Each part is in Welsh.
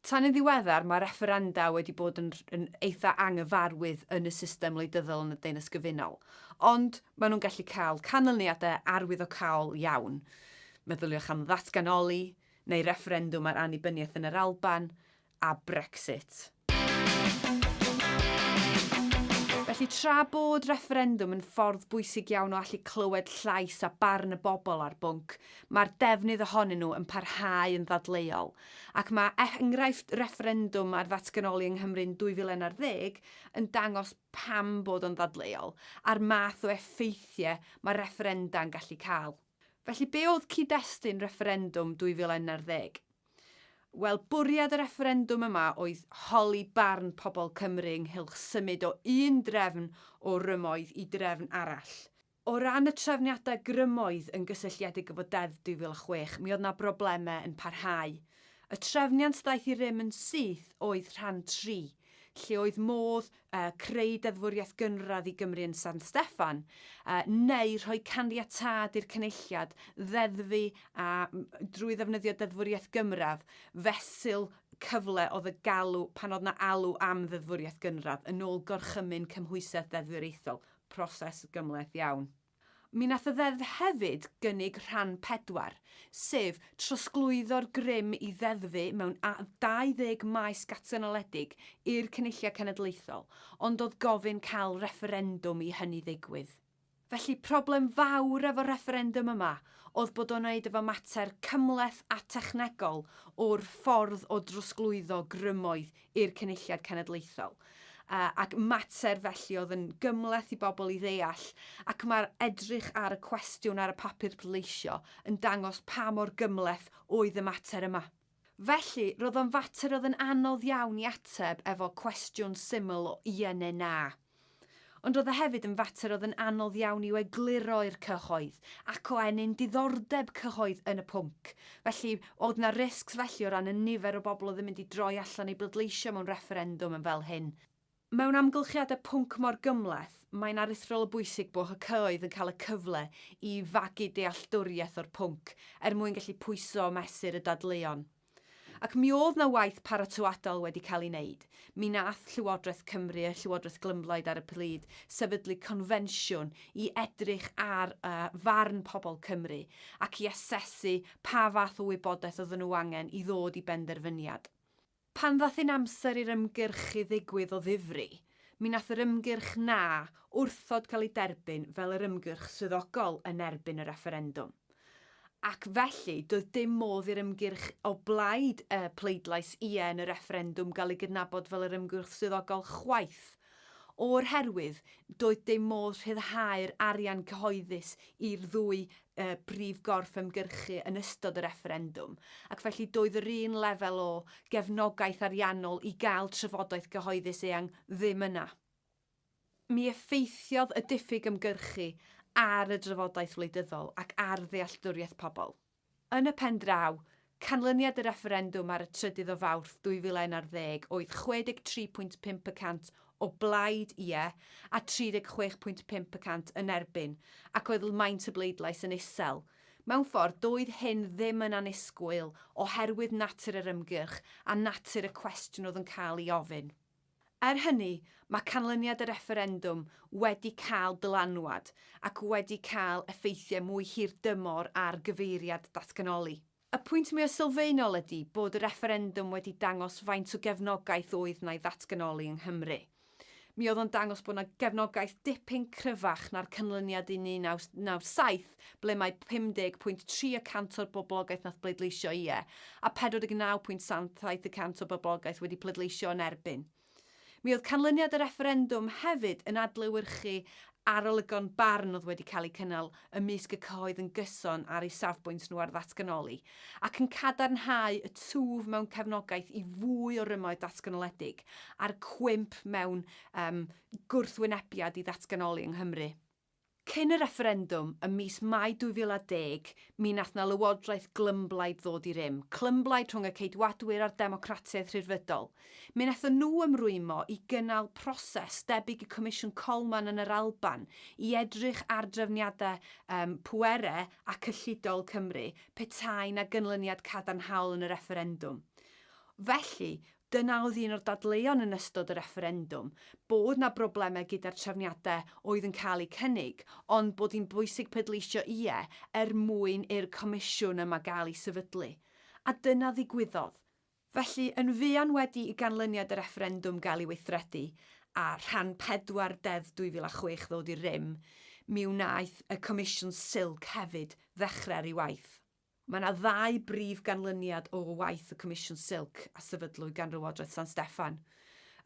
Tan yn ddiweddar, mae refferenda wedi bod yn yn eitha' anghyfarwydd yn y system wleidyddol yn y Deyrnas Gyfunol, ond maen nhw'n gallu cael canlyniadau arwyddocaol iawn. Meddyliwch am ddatganoli neu refferendwm ar annibyniaeth yn yr Alban, a Brexit. Felly, tra bod refferendwm yn ffordd bwysig iawn o allu clywed llais a barn y bobl ar bwnc, mae'r defnydd ohonyn nhw yn parhau yn ddadleuol, Ac mae enghraifft refferendwm ar ddatganoli yng Nghymru'n 2011 yn dangos pam bod o'n ddadleuol, a'r math o effeithiau mae refferenda'n gallu cael. Felly, be oedd cyd-destun refferendwm 2011? Wel, bwriad y refferendwm yma oedd holi barn pobl Cymru ynghylch symud o un drefn o rymoedd i drefn arall. O ran y trefniadau grymoedd yn gysylltiedig efo Deddf 2006, mi oedd 'na broblemau yn parhau. Y trefniant ddaeth i rym yn syth oedd rhan tri, lle oedd modd creu deddfwriaeth gynradd i Gymru yn San Steffan, neu rhoi caniatâd i'r Cynulliad ddeddfu a, drwy ddefnyddio deddfwriaeth gymradd, fesul cyfle oedd y galw pan oedd 'na alw am ddeddfwriaeth gynradd, yn ôl gorchymyn cymhwysedd deddfwriaethol. proses gymhleth iawn. Mi wnaeth y Ddeddf hefyd gynnig rhan pedwar, sef trosglwyddo'r grym i ddeddfu mewn 20 maes gatanoledig i'r Cynulliad Cenedlaethol, ond oedd gofyn cael refferendwm i hynny ddigwydd. Felly, problem fawr efo'r refferendwm yma oedd bod o'n wneud efo mater cymhleth a technegol o'r ffordd o drosglwyddo grymoedd i'r Cynulliad Cenedlaethol, ac mater felly oedd yn gymhleth i bobl i ddeall, ac mae'r edrych ar y cwestiwn ar y papur pleidleisio yn dangos pa mor gymhleth oedd y mater yma. Felly, roedd o'n fater oedd yn anodd iawn i ateb efo cwestiwn syml o ie neu na. Ond oedd e hefyd yn fater oedd yn anodd iawn i'w egluro i'r cyhoedd, ac o ennyn diddordeb cyhoedd yn y pwnc. Felly, oedd 'na risgs felly o ran y nifer o bobl oedd yn mynd i droi allan i bleidleisio mewn refferendwm yn fel hyn? Mewn amgylchiadau pwnc mor gymhleth, mae'n aruthrol o bwysig bod y cyhoedd yn cael y cyfle i fagu dealltwriaeth o'r pwnc, er mwyn gallu pwyso a mesur y dadleuon. Ac mi oedd 'na waith paratoadol wedi cael ei wneud. Mi wnaeth Llywodraeth Cymru a Llywodraeth Glymblaid ar y pryd sefydlu confensiwn i edrych ar farn pobl Cymru ac i asesu pa fath o wybodaeth oedden nhw angen i ddod i benderfyniad. Pan ddaeth yn amser i'r ymgyrchu ddigwydd o ddifri, Mi wnaeth yr ymgyrch 'Na' wrthod cael ei derbyn fel yr ymgyrch swyddogol yn erbyn y refferendwm. Ac felly, doedd dim modd i'r ymgyrch o blaid y pleidlais 'Ie' yn y refferendwm gael ei gydnabod fel yr ymgyrch swyddogol chwaith, o'r herwydd doedd dim modd rhyddhau'r arian cyhoeddus i'r ddwy y brif gorff ymgyrchu yn ystod y refferendwm, ac felly doedd yr un lefel o gefnogaeth ariannol i gael trafodaeth gyhoeddus eang ddim yna. Mi effeithiodd y diffyg ymgyrchu ar y drafodaeth wleidyddol ac ar ddealltwriaeth pobl. Yn y pen draw, Canlyniad y refferendwm ar y trydydd o Fawrth 2011 oedd 63.5 y cant o blaid 'ie' a 36.5 y cant yn erbyn, ac oedd lmaint y bleidlais yn isel. Mewn ffordd, doedd hyn ddim yn annisgwyl oherwydd natur yr ymgyrch a natur y cwestiwn oedd yn cael ei ofyn. Er hynny, mae canlyniad y refferendwm wedi cael dylanwad ac wedi cael effeithiau mwy hirdymor ar gyfeiriad datganoli. Y pwynt mwyaf sylfaenol ydy bod y refferendwm wedi dangos faint o gefnogaeth oedd 'na i ddatganoli yng Nghymru. Mi oedd o'n dangos bod 'na gefnogaeth dipyn cryfach na'r canlyniad yn 1997, Gymraeg, ble mae 50.3 y cant o'r boblogaeth nath bleidleisio Ie, a 49.77 y cant o boblogaeth wedi pleidleisio Yn Erbyn. Mi oedd canlyniad y refferendwm hefyd yn adlewyrchu arolygon barn oedd wedi cael eu cynnal ymysg y cyhoedd yn gyson ar eu safbwynt nhw ar ddatganoli, ac yn cadarnhau y twf mewn cefnogaeth i fwy o rymoedd datganoledig, a'r cwymp mewn um, gwrthwynebiad i ddatganoli yng Nghymru. Cyn y refferendwm ym mis Mai 2010, mi wnaeth 'na lywodraeth glymblaid ddod i rym, clymblaid rhwng y Ceidwadwyr a'r Democratiaid Rhyddfrydol. Mi wnaethon nhw ymrwymo i gynnal proses debyg i Comisiwn Coleman yn yr Alban i edrych ar drefniadau pwere a cyllidol Cymru petai 'na gynlyniad cadarnhaol yn y refferendwm. Felly, Dyna oedd un o'r dadleuon yn ystod y refferendwm, bod 'na broblemau gyda'r trefniadau oedd yn cael eu cynnig, ond bod hi'n bwysig pleidleisio ie er mwyn i'r comisiwn yma gael ei sefydlu. A dyna ddigwyddodd. Felly, yn fuan wedi i ganlyniad y refferendwm gael ei weithredu, a rhan pedwar Deddf 2006 ddod i rym, mi wnaeth y Comisiwn Silk hefyd ddechrau ar ei waith. Mae yna ddau brif ganlyniad o waith y Comisiwn Silk a sefydlwyd gan Lywodraeth San Steffan.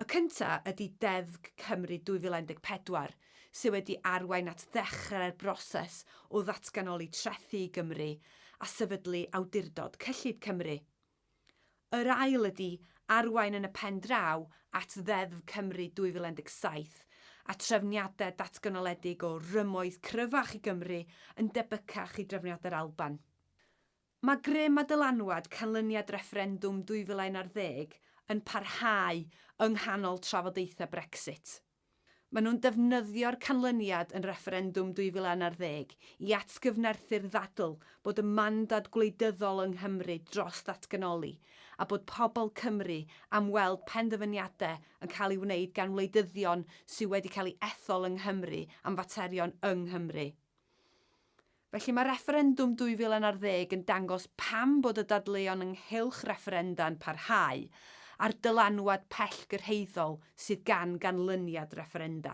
Y cyntaf ydy Deddf Cymru 2014, sydd wedi arwain at ddechrau'r broses o ddatganoli trethi i Gymru a sefydlu Awdurdod Cyllid Cymru. Yr ail ydi arwain yn y pen draw at Ddeddf Cymru 2017 a trefniadau datganoledig o rymoedd cryfach i Gymru yn debycach i drefniadau'r Alban. Mae grym a dylanwad canlyniad refferendwm 2011 yn parhau yng nghanol trafodaethau Brexit. Maen nhw'n defnyddio'r canlyniad yn refferendwm 2016 i atgyfnerthu'r ddadl bod y mandad gwleidyddol yng Nghymru dros ddatganoli, a bod pobl Cymru am weld penderfyniadau yn cael ei wneud gan wleidyddion sydd wedi cael ei ethol yng Nghymru am faterion yng Nghymru. Felly mae refferendwm 2010 yn dangos pam bod y dadleuon ynghylch refferenda'n parhau, a'r dylanwad pellgyrhaeddol sydd gan ganlyniad refferenda.